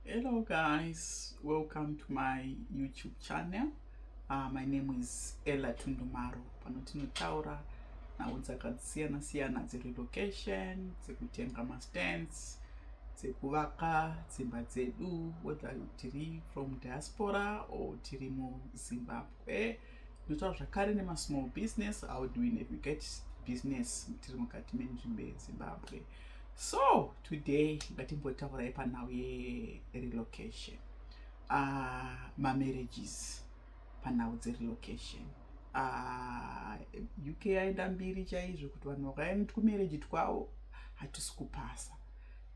Hello guys, welcome to my YouTube channel. Uh, my name is Ella Tundumaro. Pano tinotaura nhau dzakasiyana siyana dzerelocation, dzekutenga mastands, dzekuvaka dzimba dzedu whether tiri from diaspora or tiri muZimbabwe. Tinotaura zvakare nemasmall business, how do we navigate business tiri mukati menzvimbo yeZimbabwe. so today ngatimbotaurai panhau yerelocation uh, ah, mamarriages panhau dzerelocation uh, ah, uk aenda mbiri chaizvo kuti vanhu vakaenda kumarriage twavo hatisi kupasa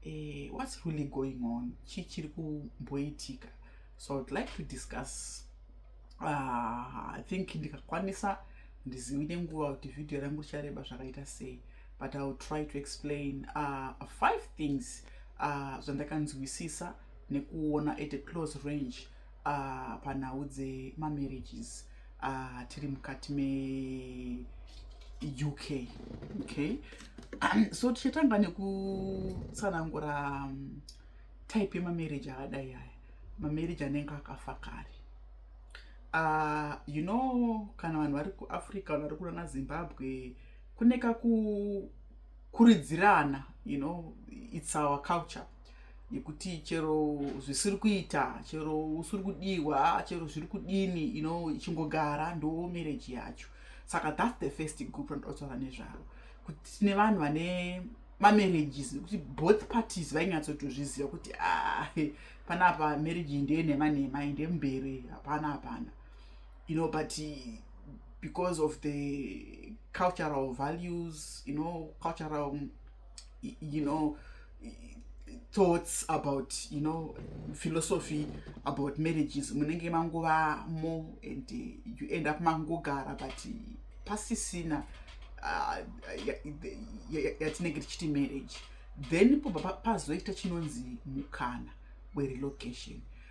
eh, what's really going on chii chiri kumboitika so iwould like to discuss uh, i think ndikakwanisa ndizivi nenguva kuti vhidhiyo rangu richareba zvakaita sei but iwill try to explain uh, five things uh, zvandakanzwisisa nekuona at a close range uh, panhau dzemamarriages uh, tiri mukati me uk okay so tichatanga nekutsanangura um, type yemamarriage akadai aya mamarriage anenge akafa kare uh, you know kana vanhu vari kuafrica vanhu vari kurana zimbabwe kune kakukuridzirana you know its our culture yekuti chero zvisiri kuita chero usiri kudiwa chero zviri kudini you know ichingogara ndo marriage yacho saka thats the first group randotaura nezvaro kuti tine vanhu vane mamarriages nekuti both parties vainyatsotozviziva kuti ah, panapa marriage ndeye nhema nhema ende mberi hapana hapana you know but because of the cultural values you know cultural you know thoughts about you know philosophy about marriages munenge mangova more and you end up mangogara but pasisina uh, yatinenge tichiti marriage then pazoita chinonzi mukana werelocation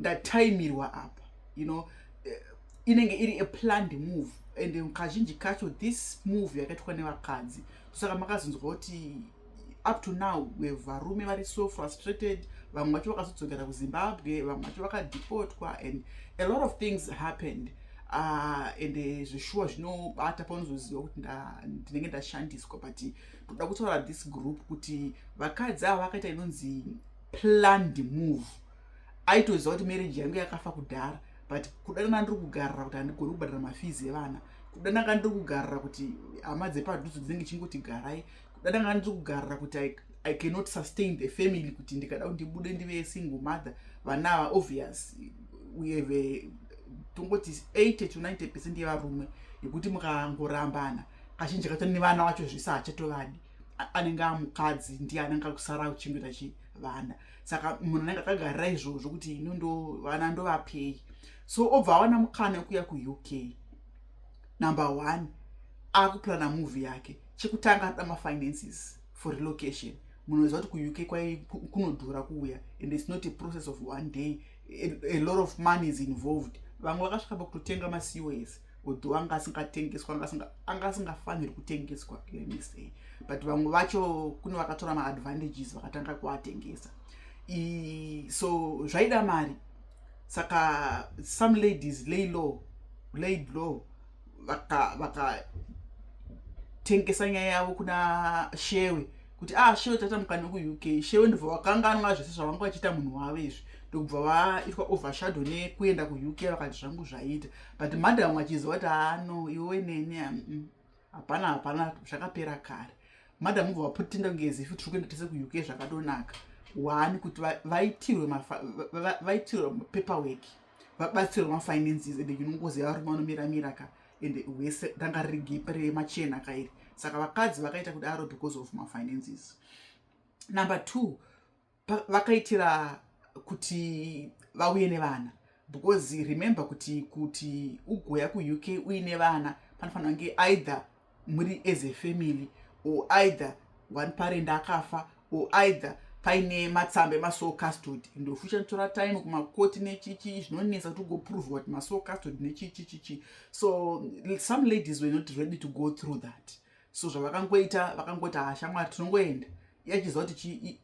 ndataimirwa apa you know eh, inenge iri a planned move and kazhinji kacho this move yakaitwa nevakadzi saka makazonzwa kuti up to now varume vari so frustrated vamwe vacho vakazodzokera kuzimbabwe vamwe vacho vakadepotwa and a lot of things happened Ah, ende eh, zveshuwa zvinobata paunozoziva kuti ndinenge ndashandiswa but ndoda kutaura this group kuti vakadzi ava vakaita inonzi planned move aitoziva kuti marriage yangu yakafa kudhara but kudanana ndiri kugarira kuti handigoni kubhadhara mafizi evana kudanaka ndiri kugarira kuti hama dzepadhuzo dzinenge chingoti garai kudanaka ndiri kugarira kuti i cannot sustain the family kuti ndikada kuti ndibude ndive single mother vana ava obvious uyeve tongoti 80 to 90 percent yevarume yekuti mukangorambana kazhinji kacho nevana vacho zvese hachatovadi anenge amukadzi ndiye anenge akusara akuchengeta chi vana saka munhu anenge akagarira izvozvo kuti ino ndo vana ndovapei so obva awana mukana wekuya kuuk number one akupurana movie yake chekutanga anoda mafinances for relocation munoziva kuti kuuk kwai kunodhura kuuya and its not a process of one day a, a lot of money is involved vamwe vakasvika pakutotenga macos although anga asingatengeswa anga asingafaniri kutengeswa let me say but vamwe vacho kune vakatora maadvantages vakatanga kuatengesa so zvaida mari saka some ladies lay law laid law vakatengesa vaka nyaya yavo kuna shewe kuti ah shewe taita mukana kuuk shewe ndobva vakanganwa zvese zvavanga vachiita munhu wavo izvi ndokubva vaitwa overshadow nekuenda kuuk vakati zvangu zvaita but madam achiziva kuti ano ah, iwe neni ah, mm, mm. hapana hapana zvakapera kare madam ubva vaputinda kunge as if tiri kuenda tese kuuk zvakadonaka wani kuti vaitirwe vaitirwe paperwork vabatsirwe mafinances ende unongoziva varume vanomiramira ka ende wese ranga riri gepe remachena kairi saka vakadzi vakaita kudaro because of mafinances number two vakaitira kuti vauye nevana because remember kuti kuti ugoya kuuk uine vana panofanira kunge either muri as a family or either one parent akafa or either paine matsamba emasoul custod ndofucha tora time kumakoti nechichi zvinonetsa kuti ugoprovwa kuti masoul custod nechichichichi so some ladies were not ready to go through that so zvavakangoita vakangoti ha shamwari tinongoenda iye achiziva kuti chi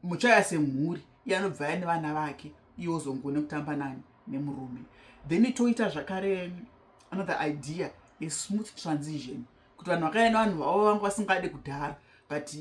muchaya semhuri iye anobva ya nevana vake iye ozongone kutamba nani nemurume then toita zvakare another idea a smooth transition kuti vanhu vakaya nevanhu vavo vanga vasingade kudhara but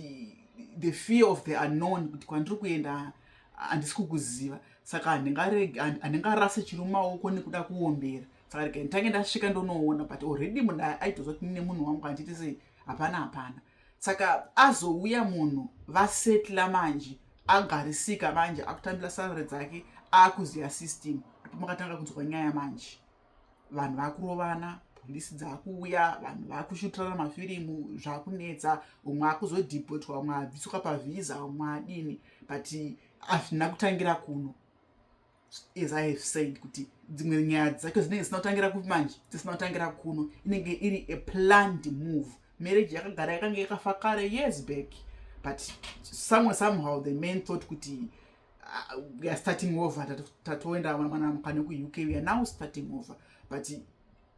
the fear of the unknown kuti kwandiri kuenda handisi kukuziva saka handingarase chiri mumaoko nekuda kuombera Again, tange ndasvika ndonoona but already munhu aitoziva kuti nemunhu wangu handiti sei hapana hapana saka azouya munhu vasetla manje agarisika manje akutambira sarare dzake akuziva system ndipo makatanga kunzwa nyaya manje vanhu vakurovana polisi dzakuuya vanhu vakushutirana mafirimu zvakunetsa umwe akuzodhipotwa umwe abvisuka pavhiza umwe adini but hazvina kutangira kuno as i have said kuti dzimwe nyaya dzacho dzinenge zisina kutangira kupi manje dzisina kutangira kuno inenge iri a planned move marriage yakagara yakange yakafa kare years back but somewhere somehow the man thought kuti uh, we are starting over tatoenda mwana mukane kuuk we are now starting over but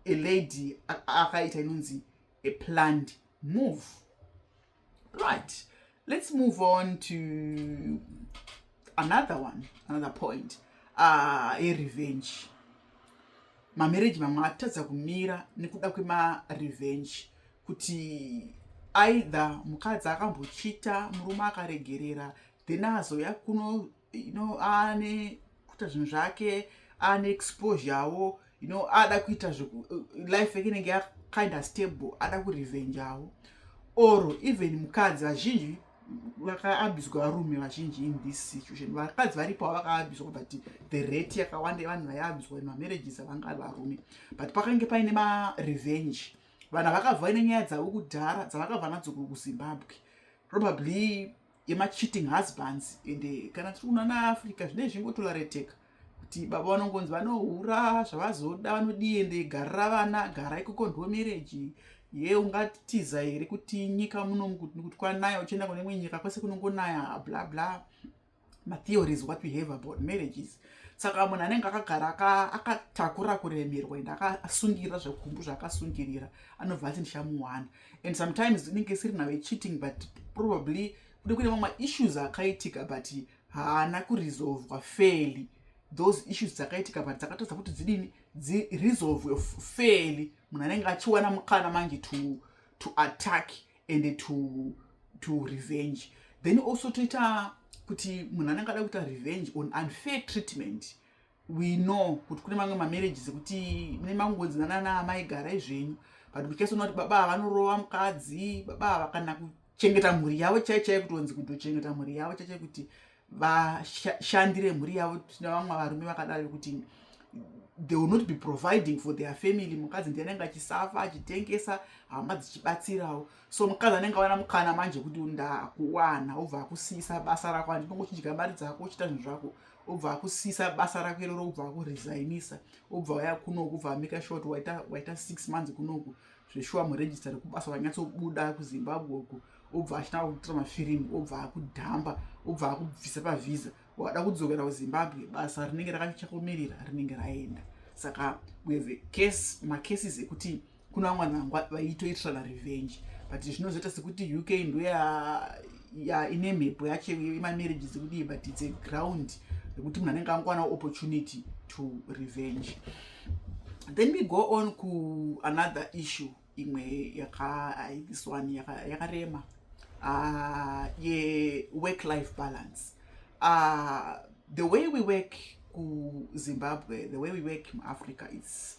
a lady akaita inonzi a planned move right let's move on to another one another point uh, a revenge mamarriage mamwe atadza kumira nekuda kwemarevenge kuti aidha mukadzi akambochita murume akaregerera then azouya kuno you know ane kuita zvinhu zvake ane exposure avo you know ada kuita life yake inenge yakinda stable ada kurevenge avo or even mukadzi vazhinji vakaabizwa varume vazhinji in this situation vakadzi varipo vakaabizwa but the rate yakawanda yevanhu vaiabizwa mamarriages avanga ari varume but pakange paine marevenge vanhu vakabva ine nyaya dzavo kudhara dzavakabva nadzo kuzimbabwe probably yemacheating husbands ende kana tiri kuno ana africa zvinei zvingotorareteka kuti baba vanongonzi vanohura zvavazoda vanodii ende garira vana gara ikoko ndo mereji ye ungatiza here kuti nyika muno kuti kwanaya uchienda kune imwe nyika kwese kunongonaya bla bla matheories what we have about marriages saka munhu anenge akagara akatakura kuremerwa ende akasungirira zvakumbu zvaakasungirira anobva ati ndichamuwana and sometimes inenge isiri now yecheating but probably kude kune mamwe issues akaitika but haana kuresolvwa fairly those issues dzakaitika but dzakatadza kuti dzidini dziresolvwe fairly munhu anenge achiwana mukana manje to, to attack and to, to revenge then also toita kuti munhu anenge ada kuita revenge on unfair treatment we know kuti kune mamwe mamarriages ekuti mune mangonzi nanana amai garai zvenyu but kuchasona kuti baba ava vanorova mukadzi baba ava kana kuchengeta mhuri yavo chai chai kuti onzi kutochengeta mhuri yavo chai chai kuti vashandire mhuri yavo tina vamwe varume vakadaro vekuti they will not be providing for their family mukadzi ndiye anenge achisafa achitengesa hama dzichibatsirawo so mukadzi anenge awana mukana manje kuti ndakuwana obva akusiyisa basa rako andinongochidya mari dzako uchita zvinhu zvako obva akusisa basa rako iroro obva akuresainisa obva waya kunoku obva amika short waita, waita six months kunoku zveshuwa muregista rekubasa wanyatsobuda kuzimbabwe uku obva achina kutora mafirimu obva akudhamba obva akubvisa pavhiza wada kudzokera kuzimbabwe basa rinenge rakachakomerera rinenge raenda saka we have a case macases ekuti kuna vamwe vanhu vaitoitirana revenge but zvinozoita sekuti uk ndo ine mhepo yacho imamarriage dzekudii but its a ground rekuti munhu anenge angwana opportunity to revenge then we go on kuanother issue imwe yakathis one yakarema ah, yework life balance ah, the way we work kuzimbabwe the way we work muafrica its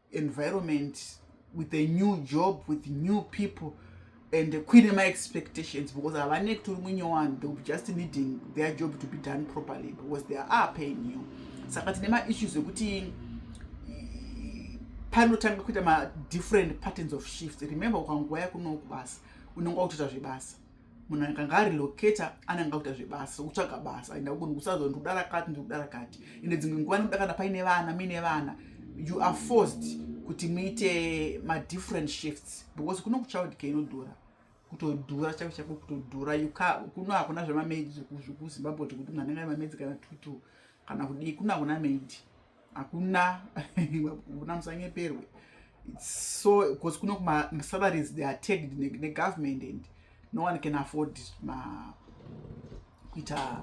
environment with a new job with new people and kuine maexpectations because havane kutori munyowani they will just needing their job to be done properly because they are paying you saka tine maissues ekuti panotanga kuita madifferent patterns of shift remember ukanguva yakunoku basa unenge wakutoita zvebasa munhu akanga ari locator ananga kuita zvebasa kutsvaga basa enda kunhu kusazo ndikuda rakati ndikuda rakati ende dzimwe nguva nekuda kana paine vana muine vana you are forced kuti muite madifferent shifts because kuno kuchild care inodhura kutodhura chako chako kutodhura kuno hakuna zvemamedi zvekuzimbabwe zvekuti mwana ngai mamedi kana tutu kana kudii kuno hakuna medi hakuna kuna musanyeperwe so because kuno masalaries they are tagged negovernment and no one can afford ma kuita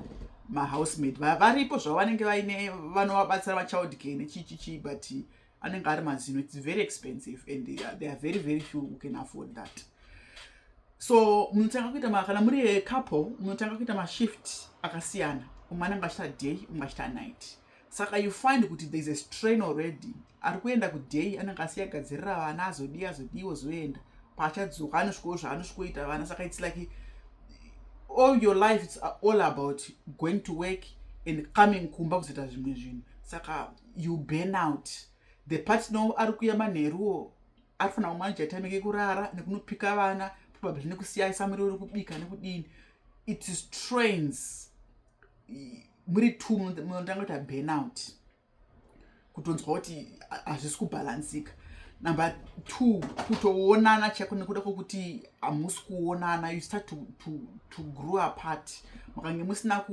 mahousemaid varipo zvavo vanenge vaine vanovabatsira vachild care nechichichi but anenge ari mazino its very expensive and they are very very few who can afford that so munotanga kuita kana muri couple munotanga kuita mashift akasiyana umwe anenge achita day umwe achita night saka you find kuti thereis a strain already ari kuenda kuday anenge asi yagadzirira vana azodii azodiiwo zoenda paachadzoka anosvikowo zvaanosvikoita vana saka its like all your life its all about going to work and coming kumba kuzoita zvimwe zvinhu saka you burn out the partner ari kuya manheruwo ari fanira kumanja time ke kurara nekunopika vana probably nekusiyaisa muriwo rekubika nekudini it strains muri two munotanga kuita burnout kutonzwa kuti hazvisi kubhalansika number two kutoonana chaiko nekuda kwokuti hamusi kuonana you start to, to, to grow apart makange musina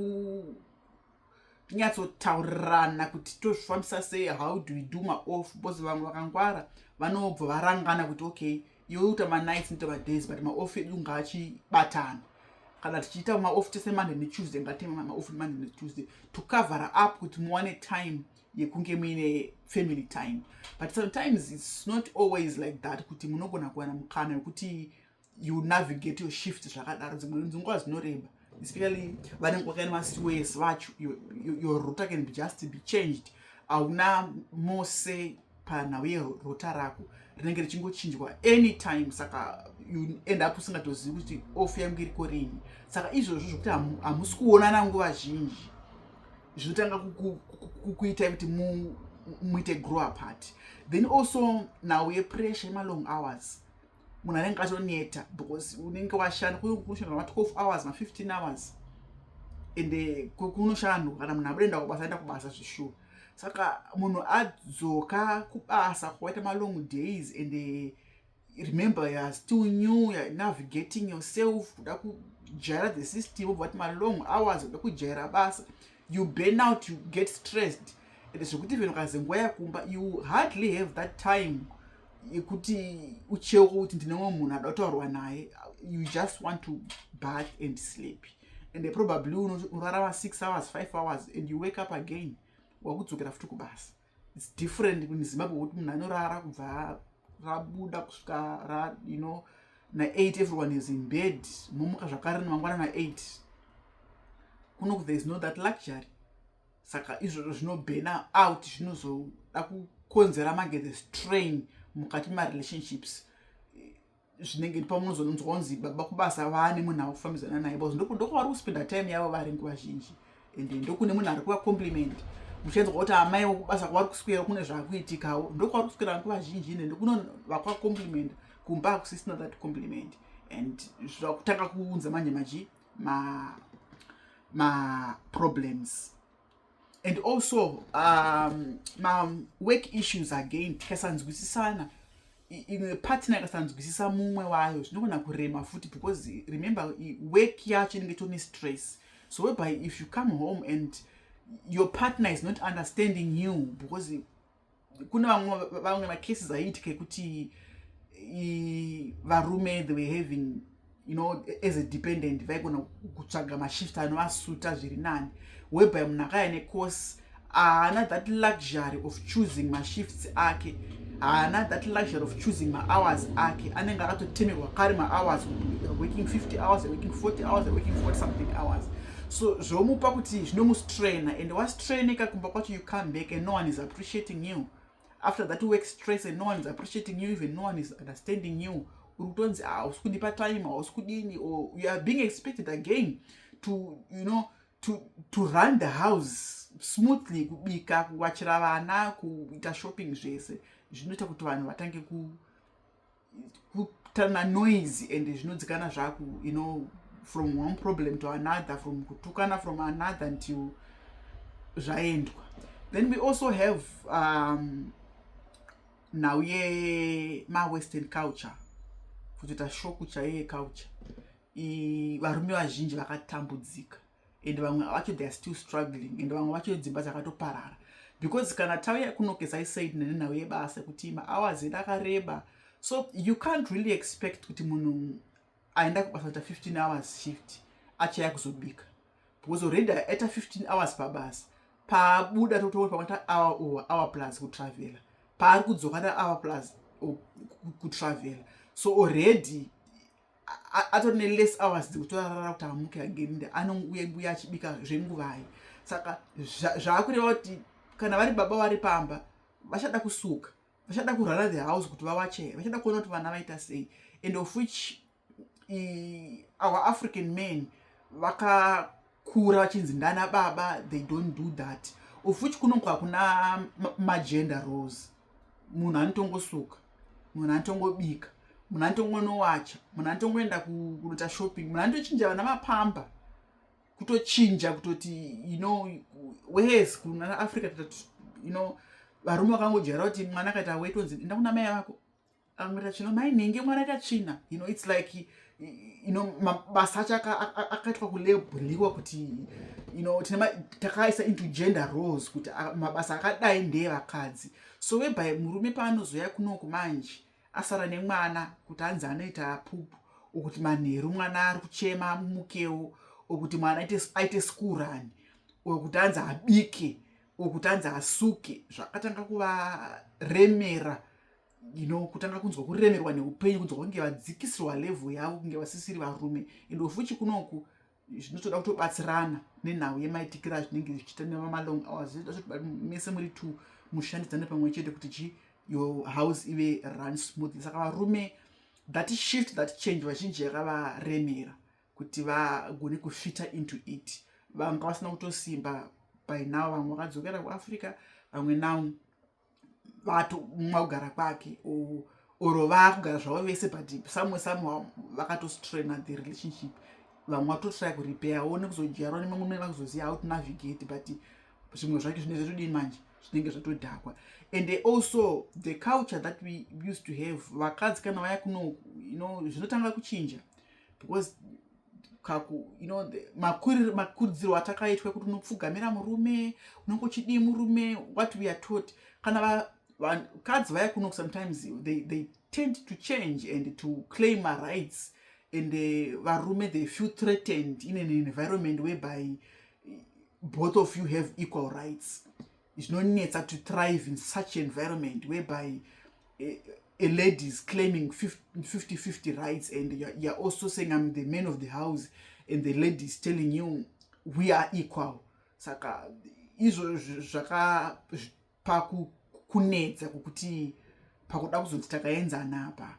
kunyatsotaurirana kuti tozvifambisa sei how do we do maoff because vamwe vakangwara vanobva varangana kuti okay yoita manights nita madays but maoff edu ngaachibatana kana tichiita maoff tese monday netuesday ngatime maoff monday netuesday to cover up kuti muwane time yekunge muine family time but sometimes its not always like that kuti munogona kuwana mukana wekuti you navigate your shift zvakadaro dzimwe nzunguva dzinoreba especially vanenge wakaina masiwes vacho your router can be just be changed hauna mose panhau yerota rako rinenge richingochinjwa anytime saka you end up usingatozivi kuti off yangu iriko rini saka izvozvo zvokuti hamusi kuonana nguva zhinji zvinotanga kukuitai kuti muite grow apart then also nhau yepressure yemalong hours munhu anenge atoneta because unenge washanda kunoshanda ma12 hours ma15 hours and eh, kunoshandwa kana munhu abudaenda kubasa aenda kubasa zveshuwa saka munhu adzoka kubasa kwaita malong days and eh, remember youare still new youare navigating yourself kuda kujaira the system obva vati malong hours kuda kujaira basa you burn out you get stressed and zvekuti even ukazi nguva yakumba you hardly have that time yekuti ucheuka kuti ndine mwe munhu ada kutaurwa naye you just want to bath and sleep and probably unorara ma six hours five hours and you wake up again wakudzokera futi kubasa its different in zimbabwe kuti munhu anorara kubva rabuda kusvika ra you know na8 everyone is in bed momuka zvakare nemangwana na8 kunoku there is no that luxury saka izvozvo zvinobhena out zvinozoda kukonzera magere strain mukati marelationships zvinenge pamwe unozonzwa kunzi baba kubasa vaane munhu akufambidzana naye bcause ndokwavari kuspenda time yavo vari nguva zhinji and ndokune munhu ari kuva compliment muchinzwa kuti amai wekubasa kwavari kuswera kune zvakuitikawo ndokwavari kuswera nguva zhinji ende ndokuno vakwa compliment kumba hakusisina that compliment and zvakutanga kuunza manje machi ma maproblems and also um, mawork issues again tikasanzwisisana imwe partner ikasanzwisisa mumwe wayo zvinogona kurema futi because remember work yacho inenge tone stress so whereby if you come home and your partner is not understanding you because kune vamwe macases aiitika ekuti varume the were having you know as a dependent vaigona kutsvaga mashift anovasuta zviri nani whereby munhu akaya necourse haana that luxury of choosing mashifts ake haana that luxury of choosing mahours ake anenge akatotemerwa kare mahours working 50 hours working 40 hours working 40 something hours so zvomupa kuti zvinomustraina and wastraineka kumba kwacho you come back and no one is appreciating you after that work stress and no one is appreciating you even no one is understanding you uri kutonzi hausi ah, kundipa time hausi kudini or you are being expected again to you know to, to run the house smoothly kubika kuwachira vana kuita shopping zvese zvinoita kuti vanhu vatange ku kutana noise and zvinodzikana zvaku you know from one problem to another from kutukana from another until zvaendwa then we also have um, nhau yemawestern culture kutoita shoku chaiye culture varume vazhinji vakatambudzika and vamwe vacho theyare still struggling and vamwe vacho dzimba dzakatoparara because kana tauya kunokesa isaid nene nhau yebasa kuti mahours edu akareba so you can't really expect kuti munhu aenda kubasa ta 15 hours shift achaya kuzobika because already aita 15 hours pabasa paabuda totoona pamata hour or hour plus kutravela paari kudzoka ta hour plus kutravela so already atori neless hours dzekuti arara kuti amuke again nde anouya mbuya achibika zvenguvai saka zvaakureva kuti kana vari baba vari pamba vachada kusuka vachada kurara the house kuti vawache vachada kuona kuti vana vaita sei and of which our african man vaka kura vachinzi ndana baba they don't do that of which kunongo hakuna magender rose munhu anotongosuka munhu anotongobika munhu anotongonowacha munhu anotongoenda kunoita shopping munhu anotochinja vana mapamba kutochinja kutoti you know wes kunana africa you know varume vakangodyara kuti mwana akaita wetonzi enda kuna mai vako amwe tachino mai nhingi mwana akatsvina you know it's like you know mabasa acho akaitwa kulebhuriwa kuti you know tine takaisa into gender roles kuti mabasa akadai ndeye vakadzi so weby murume paanozoya kunoku manje asara nemwana kuti anzi anoita pupu okuti manheru mwana ari kuchema amukewo okuti mwana aite skurani okuti anzi abike okuti anzi asuke zvakatanga kuvaremera you know kutanga kunzwa kuremerwa neupenyu kunzwa kunge vadzikisirwa level yavo kunge vasisiri varume and ofuchi kunoku zvinotoda kutobatsirana nenhau yemaitikiro azvinenge zvichiita nemamalong hours zvinoda zvoti mese muri two mushandidzane pamwe chete kuti chi your house ive run smoothly saka varume that shift that change vazhinji yakavaremera kuti vagone kufita into it vanga vasina kutosimba by now vamwe vakadzokera kuafrica vamwe now vato mumwe akugara kwake or vakugara zvavo vese but somewhere somehow vakatostraina the relationship vamwe vatotry kurepair one kuzodyarwa nemamwe vakuzoziva how to navigate but zvimwe zvacho zvinenge zvatodii manje zvinenge zvatodhakwa and also the culture that we used to have vakadzi kana vaya kuno you know zvinotanga kuchinja because kaku you know makuridzirwo atakaitwa kuti unopfugamira murume unenge uchidii murume what we are taught kana vakadzi vaya kuno sometimes they, they tend to change and to claim my rights and uh, varume they feel threatened in an environment whereby both of you have equal rights zvinonetsa to thrive in such environment whereby eh, a lady is claiming 50 50 rights and you're also saying i'm the man of the house and the lady is telling you we are equal saka izvo zvaka pakunetsa kukuti pakuda kuzoti takaenzana apa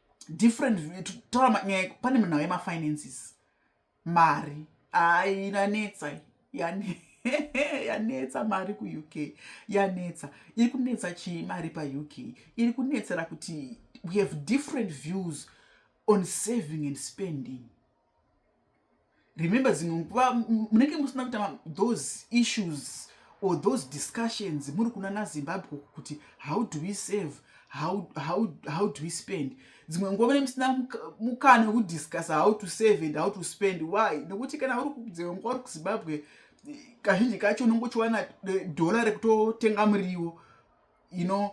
different taura nyaya pane munhau yemafinances mari ai inanetsa yani yanetsa mari kuuk yanetsa iri kunetsa chii mari pauk iri kunetsera kuti we have different views on saving and spending remember zvinhu munenge musina kuita those issues or those discussions muri kuna nazimbabwe kuti how do we save how, how, how do we spend dzimwe nguva mune musina mukana wekudiscussa how to save and how to spend why nekuti kana uri dzimwe nguva uri kuzimbabwe kazhinji kacho unongochiwana dhora rekutotenga muriwo you know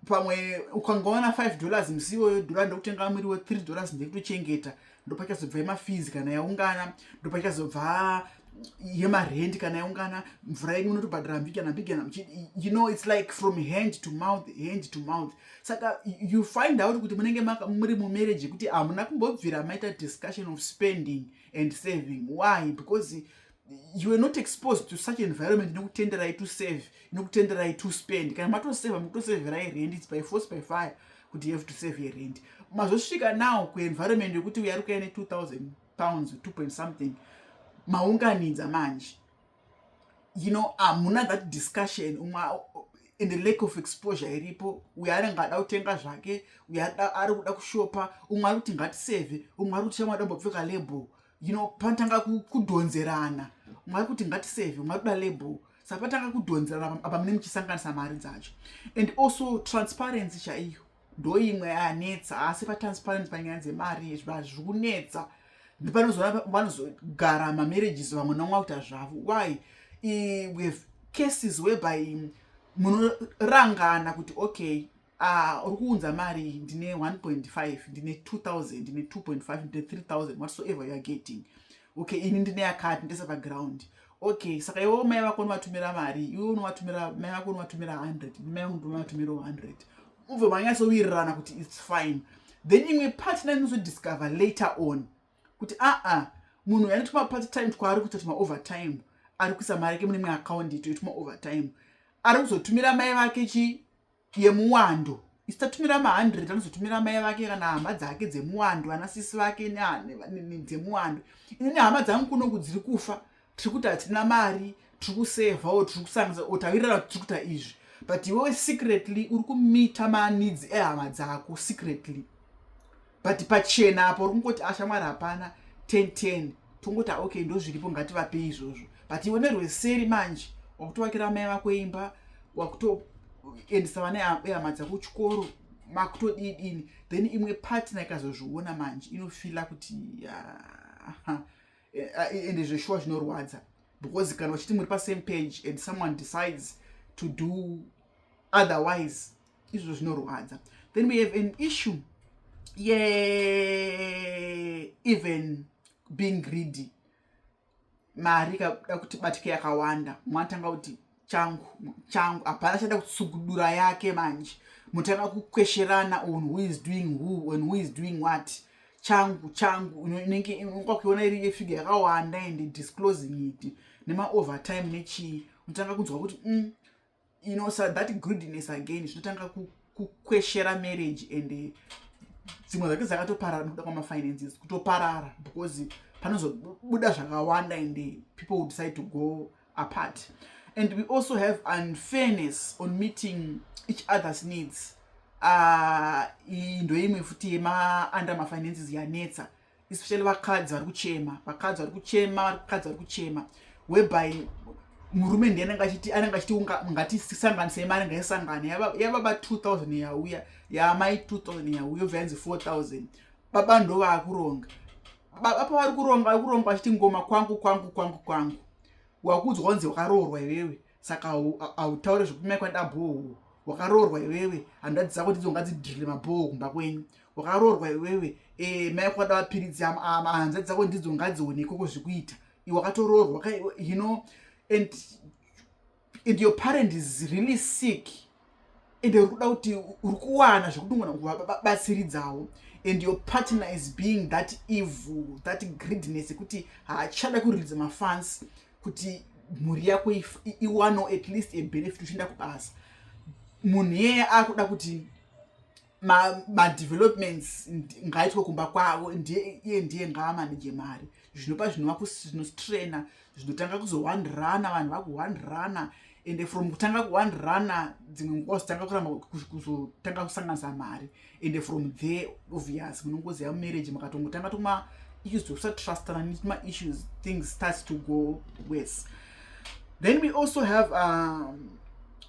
pamwe ukangowana five dollars musi iwoyo dhora ndokutenga mwiri we three dollars ndekutochengeta ndopachazobva yemafizi kana yaungana ndopachazobva yemarend kana yaungana mvura yenyu unotobhadhara mbigi kana mbigi kana you know its like from hand to mouth hand to mouth saka you find out kuti munenge muri mumarriage yekuti hamuna kumbobvira maita discussion of spending and saving why because you are not exposed to such environment inokutenderai to save inokutenderai to spend kana matoseva mukutoseverai rent its by force by fire kuti you have to save your rent mazosvika now kuenvironment yekuti uya ari kuya ne2000 pounds 2 point something maunganidza manje you know hamuna that discussion umwe in the lake of exposure iripo uyo anenge ada kutenga zvake uyo ari kuda kushopa umwe ari kuti ngatiseve umwe ari kuti chamwada mbopfeka label you know panotanga kudhonzerana mwari kuti ngatiseve mwari kuda label saka patanga kudhonzerana apa mune muchisanganisa mari dzacho and also transparency chaiyo ndo imwe yanetsa asi patransparency panyaya dzemari zvinhu zviri kunetsa ndipanozoona vanozogara mamarriages vamwe namwa kuita zvavo why we have cases whereby munorangana kuti okay Ah, uri kuunza mari ndine 1.5 ndine 2000 ndine 2.5 ndine 3000 whatsoever youare getting okay ini ndine yakati ndese paground okay saka iwewo mai vako unovatumira mari iwe unovatumira mai vako unovatumira 100 mai vangu ndovatumirawo 100 ubve manyatsowirirana kuti its fine then imwe partner inozodiscover later on kuti aa munhu yani tuma part time twaari kuita tuma over time ari kuisa mari yake mune imwe akaundi itoituma over time ari kuzotumira mai vake chii yemuwando isitatumira ma 100 anozotumira mai vake kana hama dzake dzemuwando ana sisi vake dzemuwando ini nehama dzangu kuno kudziri kufa tiri kuti hatina mari tiri kusevha o tiri kusangisa o tawirirana kuti tiri kuita izvi but iwewe secretly uri kumita maneeds ehama dzako secretly but pachena apo uri kungoti ashamwari ah, hapana 1010 tongoti ah, okay ndozviripo ngativapei izvozvo but iwe nerweseri manje wakutovakira amai vako imba wakutoendesa vana ehama dzako chikoro makutodidini then imwe partner ikazozviona manje inofila kuti ah, eh, eh, ende zveshuwa zvinorwadza because kana uchiti muri pasame page and someone decides to do otherwise izvo zvinorwadza then we have an issue yeeven being greedy mari ikakuda kuti batike yakawanda mwatanga kuti changu changu hapana chada kutsugudura yake manje mutanga kukwesherana on who is doing who and who is doing what changu changu inenge kwakuiona iri yefiga yakawanda and disclosing it nemaovertime nechii unotanga kunzwa kuti mm, you know so that goodness again zvinotanga kukweshera ku marriage and eh, dzimwe dzake dzakatoparara nekuda kwamafinances kutoparara because panozobuda zvakawanda and eh, people will decide to go apart and we also have unfairness on meeting each other's needs ah, iyi ndoimwe futi yema under mafinances yanetsa especially vakadzi vari kuchema vakadzi vari kuchema vakadzi vari kuchema whereby murume ndiye anenge achiti anenge achiti ngatisanganisei mari ngaisangane yababa 2000 yauya yaamai 2000 yauya obva yanzi 4000 baba ndo vaakuronga baba pavari kuronga vari kuronga vachiti ngoma kwangu kwangu kwangu kwangu wakuudzwa kunzi wakaroorwa iwewe saka hautaure zvekumai kwaida bhohoo wakaroorwa iwewe handadzi dzako ndidzo ngadzidhirile mabhohoo kumba kwenyu wakaroorwa iwewe e, mai kwada mapiritsi hanzadzi dzako ndidzo ngadzione ikoko zvekuita iwakatoroorwa hino and, and your parent is really sick ende uri kuda kuti uri kuwana zvekuti ungona kuvabatsiridzawo and your partner is being that evil that greediness yekuti haachada kuridza mafans kuti mhuri yako iwano at least a benefit uchienda kubasa munhu yeye akuda kuti madevelopments ma ngaitwe kumba kwavo ndiye iye ndiye ngaamanije mari zvinopa zvinovakunostraina zvinotanga kuzowandirana vanhu vakuwandirana ende from kutanga kuwandirana dzimwe nguva zotanga kuramba kuzotanga kusanganisa mari ende from there obvious munongozi yamumarriage makatongotanga tuma issues tokusatrustana netuma issues things starts to go worse then we also have um,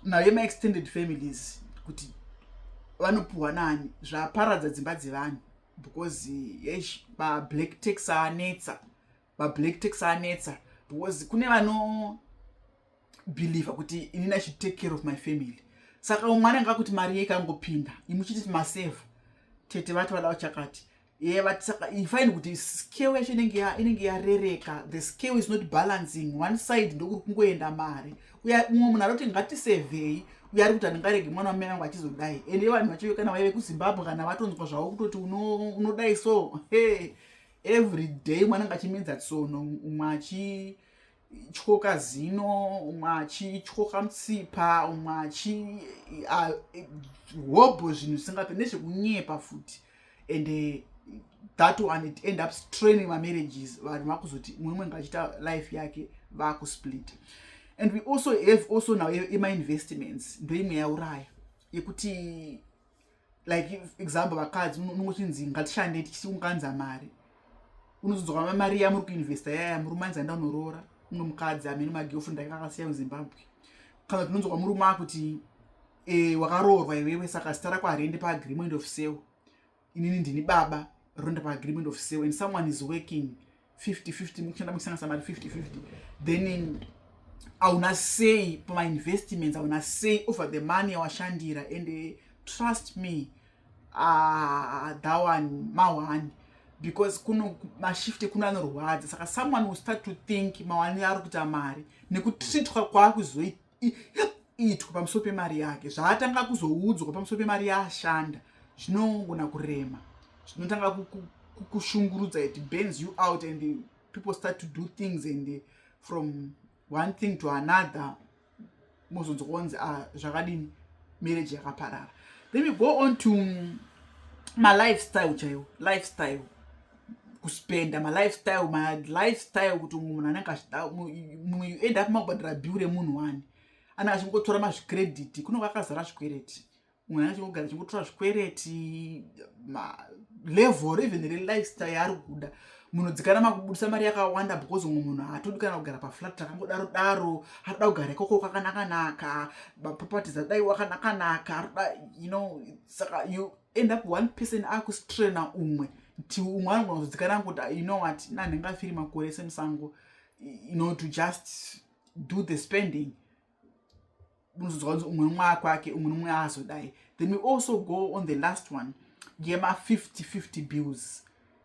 nayo maextended families kuti vanopiwa nani zvaparadza dzimba dzevanhu because yesh bablack tax anetsa bablack tax anetsa because kune vano believe kuti inini i should take care of my family saka umwe anenge akuti mari yeikangopinda imuchiti maseva tete vati vada uchakati yeah but saka you find kuti scale yacho inenge inenge yarereka the scale is not balancing one side ndokuri kungoenda mari uya mumwe munhu aroti ngatisevhei uya ari kuti handingarege mwana wamene angu achizodai ende vanhu vacho kana vaive kuzimbabwe kana vatonzwa zvavo kutoti unodai so hey, every day mwana anga achimedza tsono umwe achi tyoka zino umwe achityoka mutsipa umwe achi hobho zvinhu zvisingape nezvekunyepa futi and eh, that one it end up straining mamarriages vanhu vakuzoti mumwe ngachiita life yake vakusplit and we also have also now emainvestments ndoimwe yauraya yekuti like example vakadzi unongochinzi ngatishande tichiunganza mari unozodzoka mari yamuri kuinvesta yaya murume anzi anda unoroora umwe mukadzi amene magirlfriend ake akasiya muzimbabwe kana tinonzwa murume akuti e, wakaroorwa iwewe saka zita rako hariende paagreement of sale inini ndini baba roenda paagreement of sale and someone is working 50 50 mukushanda muchisanganisa mari 50 50 then hauna sei pamainvestments hauna sei over the money yawashandira and eh, trust me ah, that one mawani because kuno mashifte kuno anorwadza saka someone will start to think mawani ari kuita mari nekutritwa kwaakuzoita itwa pamusoro pemari yake zvaatanga kuzoudzwa pamusoro pemari yaashanda zvinongona kurema zvinotanga kukushungurudza it bends you out and people start to do things and from one thing to another mozonzi kuonzi a ah, zvakadini marriage yakaparara then we go on to mm, malifestyle chaiwo lifestyle kuspenda malifestyle malifestyle kuti umwe munhu anenge achida mumwe you end up makubhadhara bill remunhu wani anenge achingotora mazvicredit kunenge akazara zvikwereti umwe anenge achingogara achingotora zvikwereti level even relifestyle yaari kuda munhu dzikana makubudisa mari yakawanda because umwe munhu haatodi kana kugara paflat takangodaro daro atoda kugara ikoko kwakanakanaka maproperties atodaiwa kanakanaka atoda you know saka you end up one person akustrena umwe ti umwe anogona kuzodzikana kuti ah, you know what na ndingafiri makore semusango you know to just do the spending unozodzwa kunzi umwe umwe akwake umwe nomwe aazodai then we also go on the last one yema 50 50 bills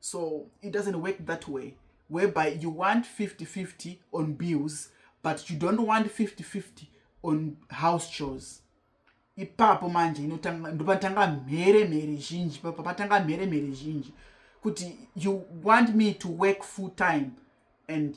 so it doesn't work that way whereby you want 5050 on bills but you don't want 5050 on house chores ipapo manje ndopatanga mhere mhere zhinji papo patanga mhere mhere zhinji kuti you want me to work full time and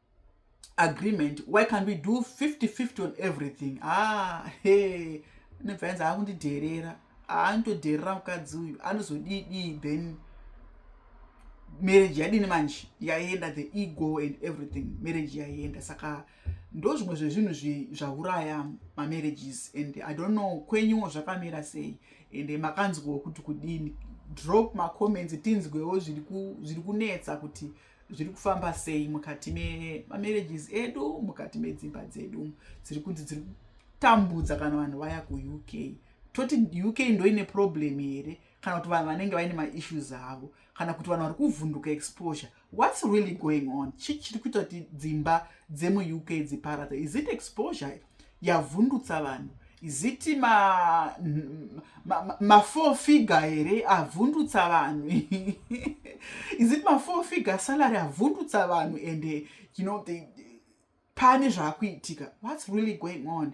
agreement why can't we do 50 50 on everything ah he nebva yanzi akundidherera anotodherera mukadzi uyu anozodii dii then marriage yadini manje yaienda the ego and everything marriage yaienda saka ndo zvimwe zvezvinhu zvauraya mamarriages and i don't know kwenyuwo zvakamira sei and makanzwawo kuti kudini drop macomments tinzwewo zviri kunetsa kuti ku, zviri kufamba sei mukati memamarriages edu mukati medzimba dzedu dziri kunzi dziri kutambudza kana vanhu vaya kuuk toti uk ndoine problem here kana kuti vanhu vanenge vaine maissues avo kana kuti vanhu vari kuvhunduka exposure whats really going on chii chiri kuita kuti dzimba dzemuuk dziparadza is it exposure yavhundutsa vanhu ziti ma, ma, ma, ma four figure here avhundutsa vanhu izit ma four figure salary avhundutsa vanhu and eh, you know they, pane zvakuitika whats really going on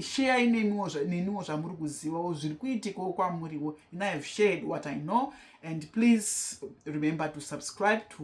sheyai neniwo zvamuri kuzivawo zviri kuitikawo kwamuriwo and i have shared what i know and please remember to subscribe to